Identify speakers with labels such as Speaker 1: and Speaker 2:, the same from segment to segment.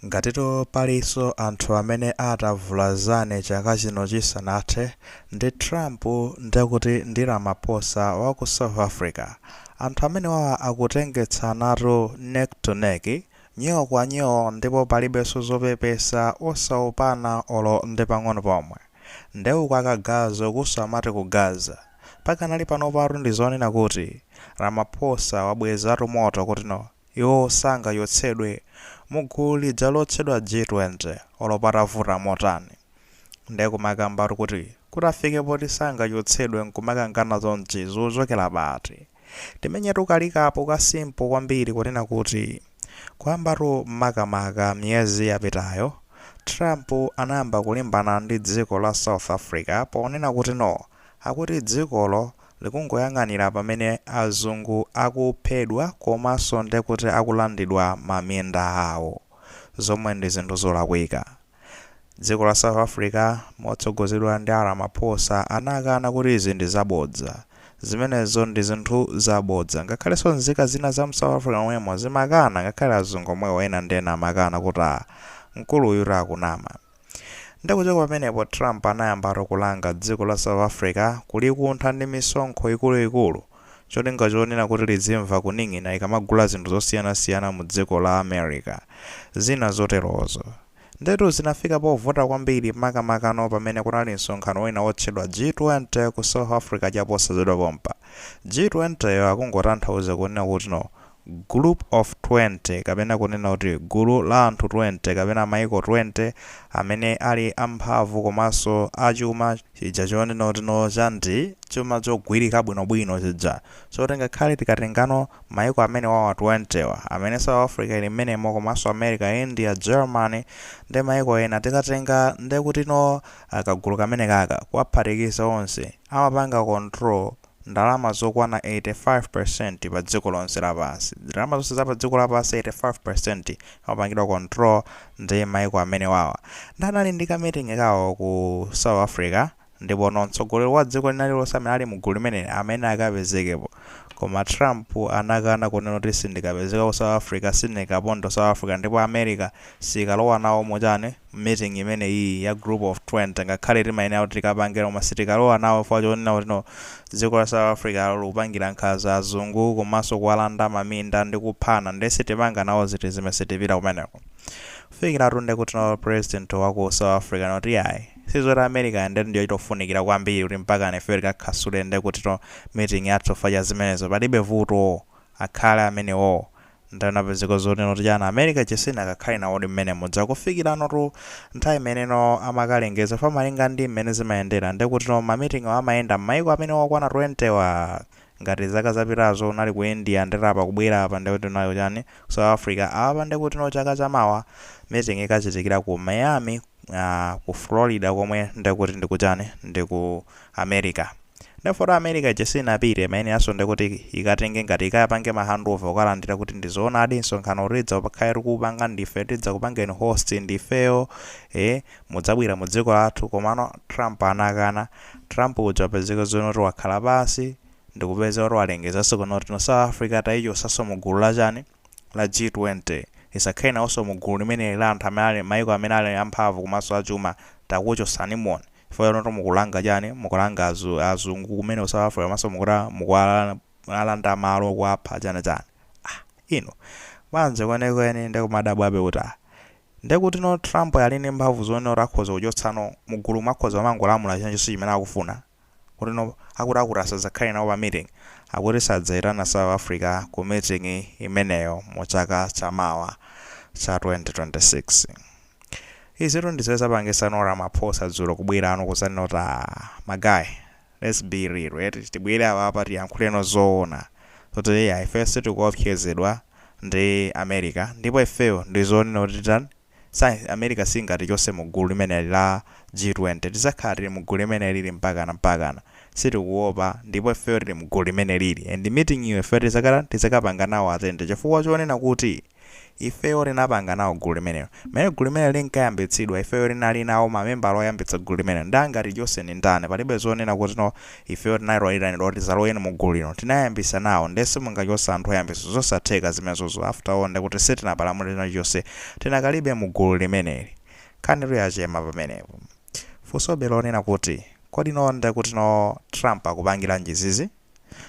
Speaker 1: Ngatitu palinso anthu amene atavulazane chaka chino chisanathe, ndi Trump, ndekuti ndi Ramaphosa wa ku South Africa. Anthu amenewawa akutengetsanatu neck to neck, nyoo kwa nyoo ndipo palibenso zopepesa, osaopana olo ndi pang'ono pomwe. Nde uku akagaza ukunso amati kugaza. Pakanali panopatu ndi zonena kuti Ramaphosa wabwezatu moto kuti noo. Iwo sangachotsedwe mu gulu lija lotchedwa G20 olo patavuta motani. Nde kumakambatu kuti kutafike poti sangachotsedwe nkumakangana chonchi zochokera pati? Timenyetu ka recap ka simple kwambiri kunena kuti kuyambatu makamaka miyezi yapitayo Trump anayamba kulimbana ndi dziko la South Africa ponena kuti no akuti dzikolo likungoyang'anira pamene azungu akuphedwa komanso ndekuti akulandidwa ma minda awo zomwe ndi zinthu zolakwika. Dziko la South Africa motsogozedwa ndi a Ramaphosa anakana kuti izi ndi zabodza. Zimenezo ndi zinthu zabodza. Ngakhalenso nzika zina za mu South Africa momwemo zimakana ngakhale azungu omwewo ena ndi ena amakana kuti aah mkulu uyutu akunama. Nde kuchoka pamenepo Trump anayambatu kulanga dziko la South Africa kulikuntha ndi misonkho ikulu ikulu cholinga chonena kuti lizimva kuning'ina ikamagula zinthu zosiyana siyana mu dziko la America. Zina zoterozo. Ndetu zinafika povuta kwambiri makamakano pamene kunali msonkhano wina wotchedwa G20 ku South Africa chaposachedwa pompa. G20 yo akungotanthauza kunena kutino group of 20 kapena kunena kuti gulu la anthu 20 kapena maiko 20 amene ali amphamvu komanso a chuma, chija chonena kuti no cha ndi chuma chogwirika bwino bwino chija choti ngakhale tikatengano maiko amenewawa 20 wa amene South Africa ili mmenemo komanso America, India, Germany ndi maiko ena tikatenga ndekuti no kagulu kamenekaka kuwaphatikiza onse. amapanga control ndalama zokwana 85% pa dziko lonse lapansi. Ndalama zonse za pa dziko lapansi 85% amapangidwa control ndi maiko amenewawa. Nde anali ndi ka meeting kawo ku South Africa ndipono mtsogoleri wa dziko lina lilonse amene ali mu gulu limeneli amayenera akapezekepo. Koma Trump anakana kunena kuti sindikapezeka ku South Africa, sindingaponde ku South Africa ndipo America sikalowa nawo mu chani? meeting imeneyiyi ya group of 20 ngakhale timayenera kuti tikapange koma sitikalowa nawo chifukwa chonena kuti no dziko la south africa lo likupangira nkhanza azungu komanso kuwalanda maminda ndi kuwapha nde sitipanga nawo zinthu zimenezi sitipita kumeneko kufikiratu nde kuti no president wa ku south africa no kuti ayi sizoti america nde ndiyo itofunikira kwambiri kuti mpakana ifeyo tikakansule nde kuti no meeting yathu chifukwa cha zimenezo palibe vuto akhale amenewowo Ndiye anapezeka zonena kuti chani America ija sinakakhale nawodi mmene imadzafikiranotu nthawi imene amakalengeza chifukwa malinga ndi mmene zimayendera ndekutino ma meeting wa amayenda mmaiko amenewo okwana 20 wa ngati zaka zapitazo unali ku India ndeta apa kubwera apa ndekuti unali kuchani ku South Africa apa ndekutino chaka chamawa meeting ikachitikira ku Miami aah ku Florida komwe nde kuti ndikuchani ndi ku America nde poti America ija sinapite imayeneranso nde kuti ikatenge ngati ikapange ma handover kukalandira kuti ndi zoonadi msonkhano tidzakhala tikuupanga ndife tidzakupangeni host ndifeyo eh mudzabwera mu dziko lathu komano Trump anakana Trump uja wapezeka zonena kuti wakhala pansi ndikupeza kuti walengezanso kuno kuti no South Africa tayichosanso mu gulu la chani la G20 isakhale naonso mu gulu limeneli la anthu amene ali maiko amene ali amphamvu komanso achuma takuchosanimo chifukwa inutu mukulanga chani mukulanga azu azungu kumene ku south africa komanso mukuti mukuwalanda malo kuwapha chani chani ah inu bwanji kwenikweni nde nkumadabwabe kuti ah ndekutino Trump ali ndi mphamvu zonena kuti akhoza kuchotsano mugulu umu akhoza kumangolamula chilichonse chimene akufuna Ndeno akuti akuti asazakhale nawo pa meeting akuti sadzaitana south africa ku meeting imeneyo mu chaka cha mawa cha 2026 izitu ndizimene zapangisano Ramaphosa dzulo kubwerano kuzanena kuti aah ma guys let's be real eti tibwere apapa tiyankhuleno zoona zoti eya ifeyo sitikuopsezedwa ndi America ndipo ifeyo ndizonena kuti titani South America singatichose mu gulu limeneli la G20 tizakhala tili mu gulu limenelili mpakana mpakana sitikuopa ndipo ifeyo tili mu gulu limenelili and meeting yo ifeyo tizakata tizakapanga nawo attend chifukwa chonena kuti ifeyo tinapanga nawo gulu limenelo mmene gulu limenelo linkayambitsidwa ifeyo tinali nawo mamembala oyambitsa gulu limenelo nde angatichose ndi ndani palibe zonena kuti no Ifeyo tinali oitanidwa kuti tizaloweni mu gulu lino. Tinayambisa nawo nde simungachotse anthu oyambisa zosatheka zimenezo after all ndekuti sitinapalamule chilichonse tinakalibe mu gulu limeneli. Nkhanitu yachema pamenepo. Funsobe lonena kuti kodi no ndekuti no Trump akupangiranji izizi?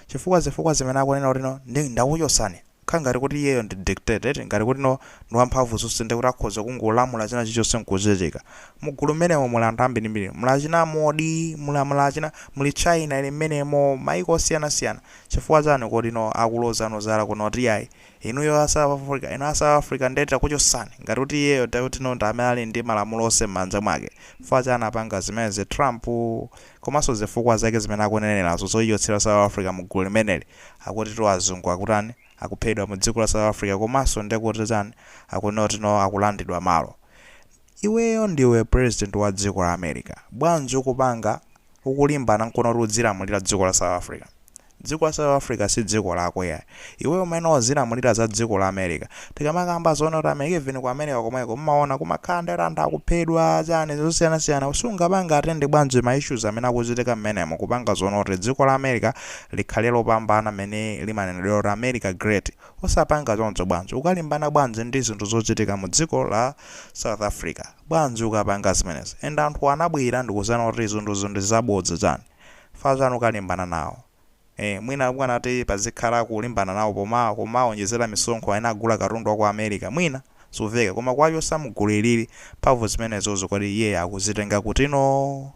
Speaker 1: Chifukwa zifukwa zimene akunena kuti no nde ndakuchosani. khala ngati kuti iyeyo ndi dictator eti, ngati kuti no ndi wamphamvu zonse ndekuti akhoza kungolamula china chilichonse nkuchitika. Mugulu mmenemo muli anthu ambirimbiri. Muli achina Modi, muli muli achina, muli China ili mmenemo, maiko osiyanasiyana. Chifukwa chani kodi no akulozano zala kuno kuti iyayi, inuyo a South Africa, inu a South Africa nde takuchosani, ngati kuti iyeyo nde kuti no ndi amene ali ndi malamulo onse mmanja mwake. Chifukwa chani apanga zimenezi Trump? Komanso zifukwa zake zimene akunenerazo zoichotsera South Africa mugulu limeneli. akuti azungu akutani akuphedwa mu dziko la south africa komanso ndekuti chani akuti no akulandidwa malo iweyo ndiwe president wa dziko la america bwanji ukupanga ukulimbana nkono kuti udzilamulira dziko la south africa dziko la south africa si dziko lako yayi iweyo umayenera uzilamulira za dziko la america tikamakamba zoona kuti america even ku america komweko mumaona kumakhala ndi anthu akuphedwa chani zosiyanasiyana osangopanga attend bwanji ma issues amene akuchitika mmenemo kupanga zoona kuti dziko la america likhale lopambana mmene limanenedwa kuti america great osapanga choncho bwanji ukalimbana bwanji ndi zinthu zochitika mu dziko la south africa bwanji ukapanga zimenezi and anthu anabwera ndikuzana kuti zinthu ndi zabodza chani fazana ukalimbana nawo ee mwina bwanati pazikhala kulimbana nawo pomawaonjezera misonkho akamagula katundu wa ku america mwina? zomveka koma kuwachotsa mugulu ilili mphamvu zimenezozo kodi iyeyo akuzitenga kuti no?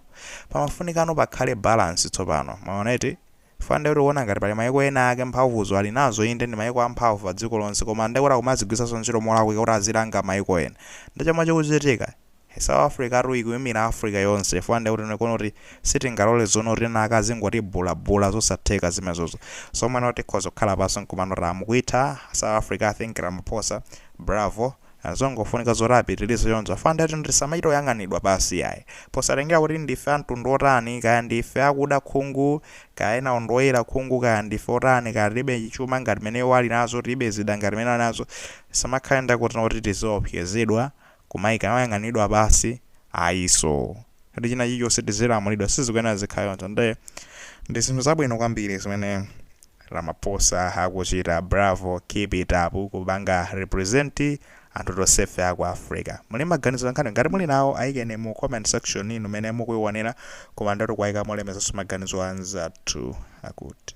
Speaker 1: pamafunikano pakhale balance tsopano mwaona eti chifukwa nde tikuona ngati pali maiko ena ake mphamvuzo ali nazo inde ndi maiko amphamvu padziko lonse koma nde kuti akumazigwiritsanso ntchito molakwika kuti azilanga maiko ena nde zomwe zikuchitika He South Africatu ikuimira Africa yonse chifukwa ndekuti ndikuona kuti sitingalole zoona kuti ena ake azingotibhulabhula zosatheka zimenezozo zomwe no tikhoza kukhala pansi nkumano kuti ah mukuyitha South Africa I think Ramaphosa bravo and zongofunika zoti apitilize choncho chifukwa ndekuti no tisamachite kuyang'anidwa pansi iyayi posatengera kuti ndife a mtundu wotani kaya ndife akuda khungu kaya enawo ndi oyera khungu kaya ndife otani kaya tilibe chuma ngati mene iwo ali nazo tilibe zida ngati mene ali nazo tisamakhale ndekuti no kuti tiziopsezedwa kumayang'aniridwa pansi ayinso kuti china chilichonse tizilamulidwa sizikuyenera zikhale choncho nde ndi zinthu zabwino kwambiri zimene ramaphosa akuchita bravo keep it up kupanga represent anthu tonsefe aku africa muli maganizo pankhani ngati muli nawo ayikeni mu comment section inu amene mukuionera koma ndithu kuwaika molemekezanso maganizo anzathu akuti